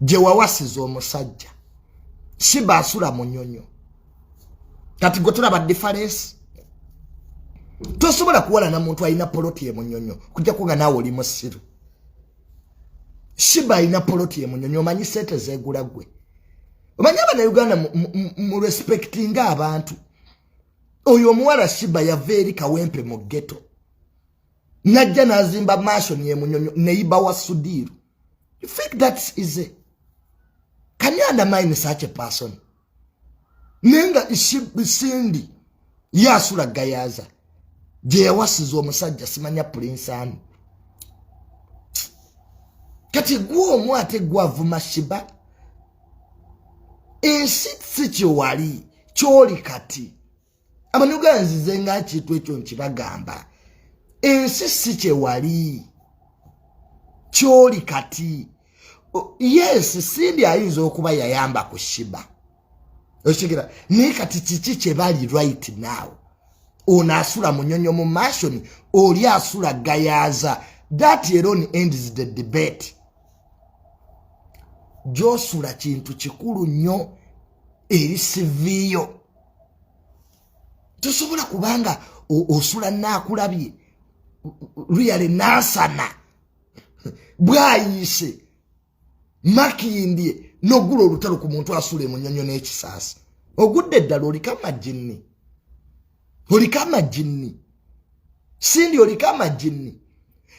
gye wawasiza omusajja siba asula munyonyo kati gwe tulaba diferensi tosobola kuwalana muntu alina poloti ye munyonyo kujja kuga naawe oli musiru siba alina poloti ye munyonyo omanyi sente zegula gwe omanyi abanauganda mu respectinga abantu oyo omuwala siba yava eri kawempe mu geto najja nazimba mansion ye munyonyo neiba wa sudiru you think that's easy can you undermine such a person nenga isindi yasula gayaza gye yawasiza omusajja simanya pulinsi ani kati gwe omu ate gwavuma shiba ensi si kyewali kyoli kati amanyuga nzize nga kintu ekyo nkibagamba ensi si kyewali kyoli kati yes sindi ayinza okuba yayamba ku shiba okitegera naye kati kiki kyebali right now ono asula munyonyo mu mashoni oli asula gayaza that alone ends the debate gyosula kintu kikulu nnyo eri siviiyo tosobola kubanga osula naakulabye luyale naasana bwayiise makindye nogula olutalo ku muntu asula emunyonyo n'ekisaasi ogudde eddala oliko amajinni oliko amajinni sindi oliko amajinni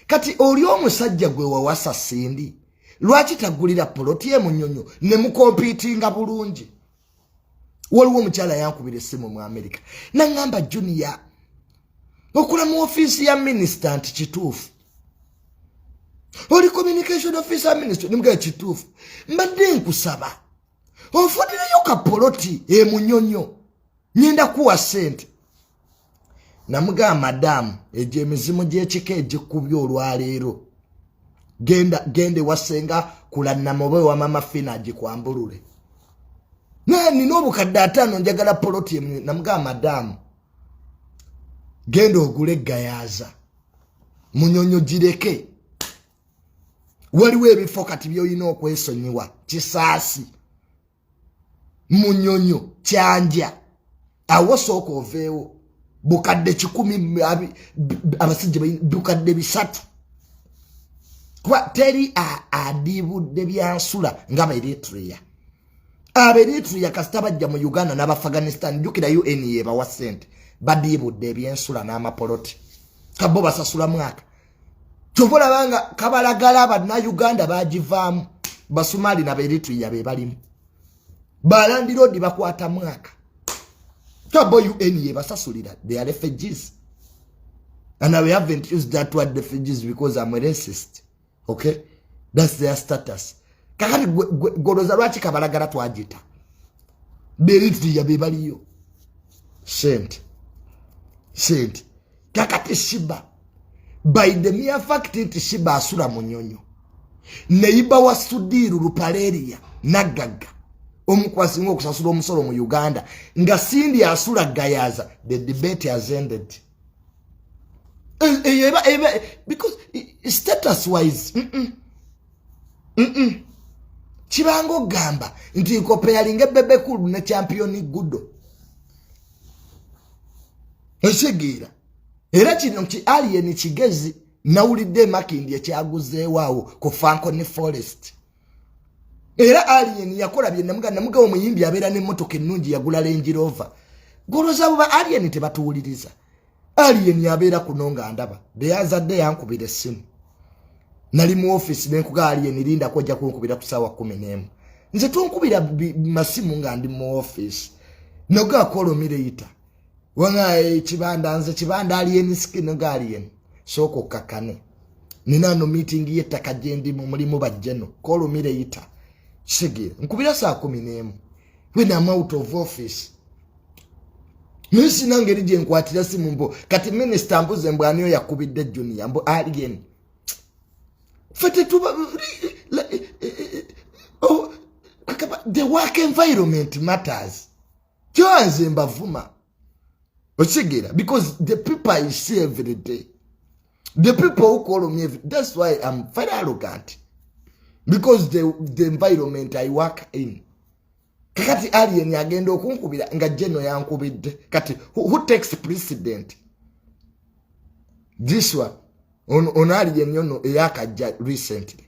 kati oli omusajja gwe wawasa sindi lwaki tagulira poloti emunyonyo ne mukompiitinga bulungi waliwo omukyala yankubira essimu mu amerika naŋŋamba juniya okula mu ofiisi ya minisita nti kituufu oli communication office ya minisita nimugee kituufu mbadde nkusaba ofunireyo kapoloti emunyonyo nyenda kuwa sente namugamba madaamu egyo emizimu gyekika egikubya olwaleero genda genda ewasenga kulannama oba ewamama fina agikwambulule naye nina obukadde ataano njagala poloti emu namugamba madaamu genda ogule eggayaaza munyonyo gireke waliwo ebifo kati byolina okwesonyiwa kisaasi munyonyo kyanja awo sooka oveewo bukadde kikumi abasajja bukadde bisatu kuba teri adiibudde byansula nga beritrea aberitrea kasita bajja mu uganda n'abafghanistan jukira un yebawa sente badiibudde ebyensula n'amapoloti kabbo basasula mwaka kyova olaba nga kabalagala bannayuganda bagivaamu basumaali naberitria be balimu balandiroodi bakwata mwaka tabo un yebasasulira they are refugees and we haven't used that word refugees because am a racist okay that's their status kakati goloza lwaki kabalagala twagita beritria be baliyo sente sente kakati shiba by the mere fact nti shiba asula munyonyo neyiba wa sudiru lupaleria naggaga omukwasinga okusasula omusolo mu uganda nga sindi asula gayaza the debate has ended eh, eh, eh, because status wise mm -mm. Mm -mm. kibanga ogamba nti nkopeyalinga ebebekulu ne championi gudo ekitegeera era kino nti alien kigezi nawulidde emakindi ekyaguzeewaawo ku fanko ne forest era alien yakola byenamuga namuga omuyimbi abeera nemotoka ennungi yagula lenjirova goloza buba alien tebatuwuliriza alien abeera kuno nga ndaba deyazadde yankubira essimu nali mu office nenkuga alien lindako ojja kunkubira ku saawa kumi n'emu nze tonkubira masimu nga ndi mu office nogakola omireyita wona ekibanda eh, nze kibanda alien skin guardian sooka okkakane nina no meeting y'ettaka gye ndi mu mulimu bajjeno kolumire yita kisege nkubira saa kumi n'emu when am out of office naye sina ngeri gye nkwatira simu mbo kati minisita mbuze mbu aniyo yakubidde junior mbu alien fe tetuba eh, eh, oh, the work environment matters kyoa nze mbavuma okitegeera because the people i see every day the people who call me every, that's why im very arrogant because the, the environment i work in kakati alien agenda okunkubira nga jeno yankubidde kati who, who takes precedent this one ono on, on alien yono eyakajja recently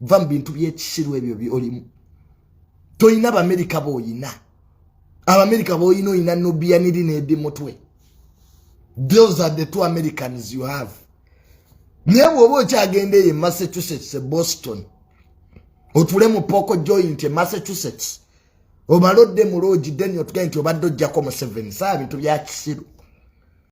va mu bintu byekisiru ebyo byolimu tolina abamerika boyina abamerika boyina oyina nobiyaniri nedi mutwe those are the two americans you have naye bwoba okyagenda eyo emassachusetts e boston otule mu poko joint e massachusetts obalodde mu loogi deni otugae nti obadde ojjako mu seven saa bintu byakisiru